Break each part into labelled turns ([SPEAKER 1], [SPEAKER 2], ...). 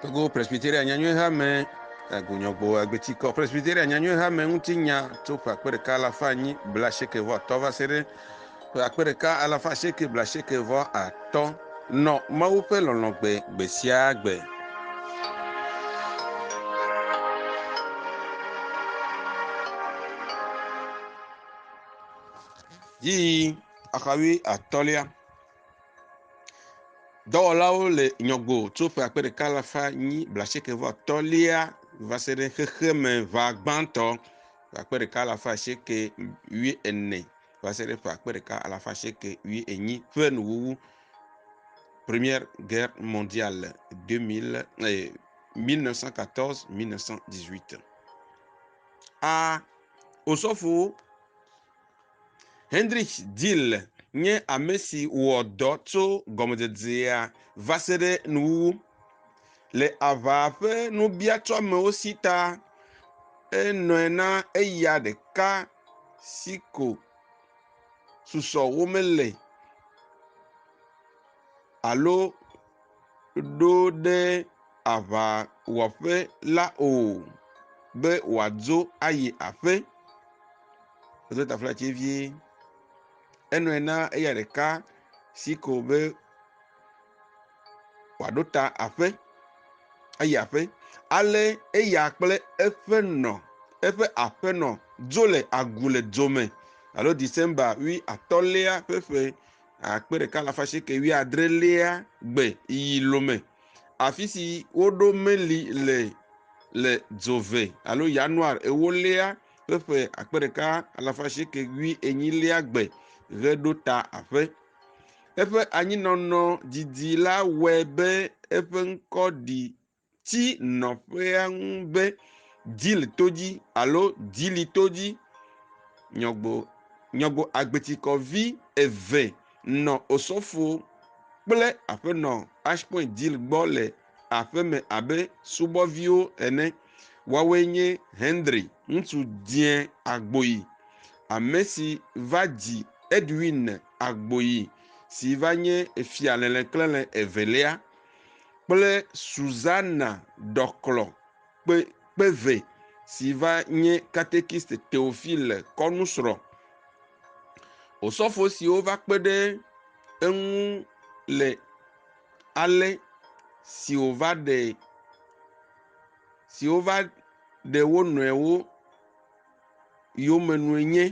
[SPEAKER 1] Togo Presbyteria nyanyuie ha me agunyɔgbo agbetikɔ Presbyteria nyanyuie ha me ŋuti nya tso ƒe akpe ɖeka alafa anyi bla sheke vɔ atɔ va se ɖe Ƒe akpe ɖeka alafa asieke blaasieke vɔ atɔ̃ nɔ Mawu ƒe lɔlɔ̃ gbe gbe sia gbe. Yi axawui atɔ̃lia. Dɔwɔlawo le nyɔgbo tso ƒe akpe ɖeka alafa nyi blaasieke vɔ atɔ̃lia va se ɖe xexeme ʋa gbãtɔ ƒe akpe ɖeka alafa asieke wui ene. va se ɖe ƒe akpe ɖeka alafa asieke wuie enyi ƒe nuwuwu. Première Guerre mondiale 2000 eh, 1914-1918. A. Osɔfo Hendrich Dill nye ame si wɔ dɔ tso gɔmedzedzea va se ɖe nuwuwu. Le aʋaa ƒe nubiatɔamewo si ta, enɔe na eya ɖeka si ko susɔ womele alo ɖo ɖe aŋawɔƒe la o be wòadzo ayi aƒe. Edo taflatse vie. Enɔe na eya ɖeka si ko be. wòaɖo ta aƒe ayi aƒe. Ale eya kple eƒe nɔ eƒe aƒenɔ dzo le agu le dzo me alo December wui atɔ̃lia ƒe ƒe akpe ɖeka alafa asieke wui adrelia gbe yi lome. Afi si woɖo meli le le dzove alo Yanuar ewolia ƒe ƒe akpe ɖeka alafa asieke wui enyilia gbe ʋe ɖo ta aƒe. Eƒe anyinɔnɔ didi la wɔe be eƒe ŋkɔ ɖi tsi nɔƒea ŋu be Dil to dzi alo Dili to dzi. Nyɔgbo, nyɔgbo agbetsikɔvi eve nɔ osɔfo kple aƒenɔ Ashpoint Dil gbɔ le aƒe me abe subɔviwo ene. Woawoe nye Henry, ŋutsu dzẽ agboyi, ame si va dzi Edwin agboyi si va nye Fia Leleklele Evelia, kple Susana Ɖɔklɔ kpe, kpeve si va nye Katekist Teofile kɔnusrɔ̃. Osɔfo siwo va kpe ɖe eŋu le ale si wòva ɖe si wova ɖe wo nɔewo yome nue nye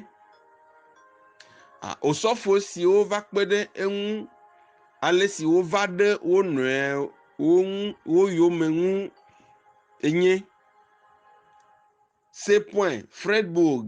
[SPEAKER 1] osɔfo siwo va kpe ɖe eŋu ale si wova ɖe wo nɔewo ŋu wo yome ŋu enye. Sepɔe Fredburg.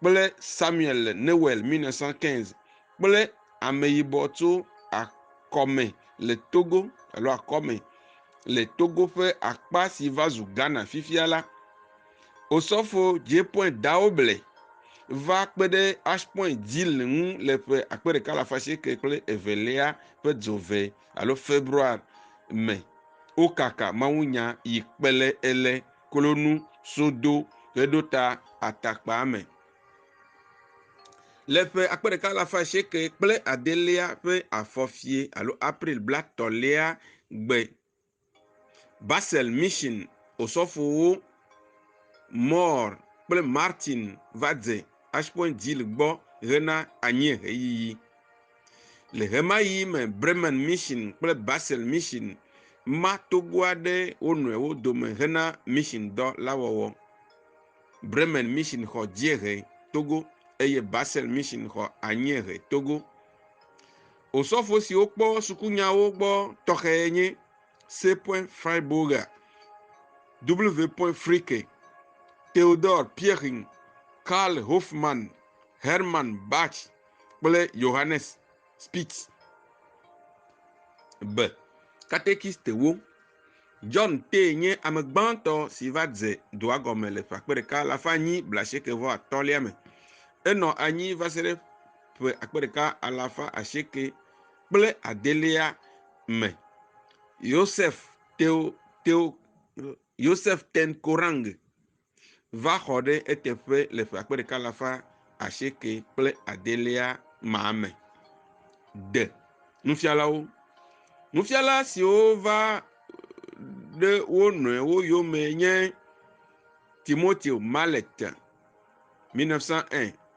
[SPEAKER 1] kple Samuel le Newel 1915 kple ameyibɔ tso akɔme le Togo alo akɔme le Togo ƒe akpa si va zu Ghana fifia la. Osɔfo Jepoint Daoble va kpe ɖe Ashpoint Dzil ŋu le ƒe akpe ɖeka le afa sieke kple evelia ƒe dzove alo February me. Wokaka mawunya yi kpe le ele klonu sodo heɖo ta atakpaa me. Le ƒe akpe ɖeka alafa asieke kple adelia ƒe afɔfie alo April blatɔ̃lia gbe, Basel Mission osɔfowo Mohr kple Martin va dze Ashpoint Gil gbɔ hena anyieheyiyi. Le ɣemaɣi me Bremen Mission kple Basel Mission ma togoa ɖe wo nɔewo dome hena mission dɔ la wɔwɔ. Bremen Mission xɔ dziehe Togo eye Basel Mission xɔ anyiehe Togo. Osɔfo siwo kpɔ sukunyawo gbɔ tɔxɛ nye C. Freiburger, W. Fricke, Theodor Pirching, Karl Hofmann, Hermann Bach, kple Johannes Spitz be, Katekistewo, John tee nye ame gbãtɔ si va dze dua gɔme le ƒe akpe ɖeka alafa anyi blaasieke vɔ atɔ̃lia me. Enɔ anyi va se ɖe ƒe akpe ɖeka alafa asieke kple adelia me. Yosef Teo Teo Yosef Ten Korang va xɔ ɖe eteƒe le ƒe akpe ɖeka alafa asieke kple adelia ma me. De nufialawo. Nufiala siwo va ɖe wo nɔewo yome nye Timoteo Mallet, 1901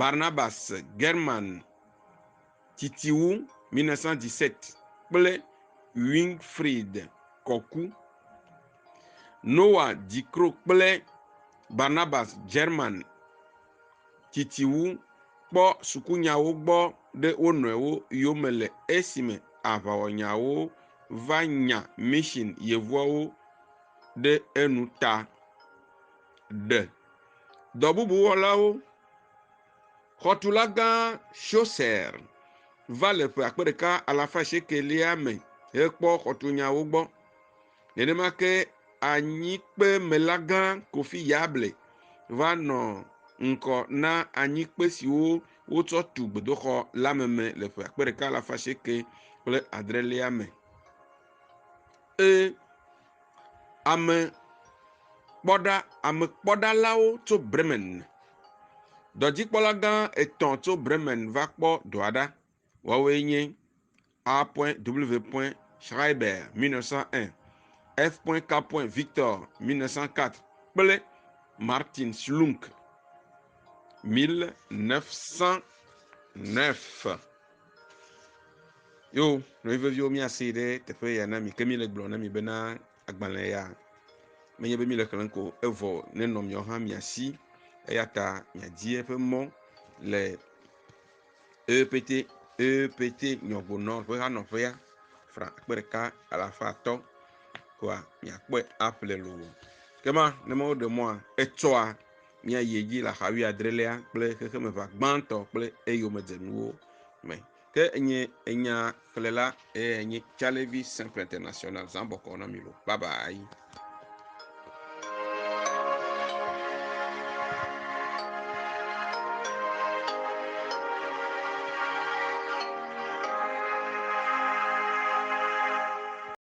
[SPEAKER 1] Barnabas, German Titiwu, 1917, kple Winfried Kɔku. Noa Dikro kple Barnabas, German Titiwu, kpɔ sukunyawo gbɔ ɖe wo nɔewo yome le esime aʋawɔnyawo va nya mission yevuawo ɖe enu ta. Ɖe. Dɔbubuwɔlawo, Xɔtulagã Chaucer va le ƒe akpe ɖeka alafa asiekɛlia me hekpɔ xɔtunyawo gbɔ. Nenema ke anyikpemelagã Kofi Yable va nɔ ŋkɔ na anyikpe siwo wotsɔ tu gbedoxɔ la meme le ƒe akpe ɖeka alafa asieke kple adrelia me. E. Ame kpɔɖa, ame kpɔɖalawo tso Bremen. Dɔdzikpɔla gã etɔ̃ tso Bremen va kpɔ dɔa ɖa. Woawoe nye A. W. Schreiber, 1901, F. K. Victor, 1904, kple Martin Schlunk, 1909. yo nɔvi veviwo míase ɖe teƒe ya na mi ke míle gblɔ na mi bena agbalẽ ya menye be míle xlẽm ko evɔ nenɔ miawo hã mia si eya ta miadi eƒe mɔ le ept ept nyɔgbonɔ ƒe hanɔƒea fra akpe ɖeka alafa atɔ koa miakpɔe aƒle loo kema ne mawo ɖe mɔa etsɔa Míayi edzi le axa wuiadrelia kple xexemeʋa gbãtɔ kple eyomedzenuwo me. Ke enye enya xlẽla eye enye Calevi Sempre International zã bɔkɔ na mi lo. Bye bye.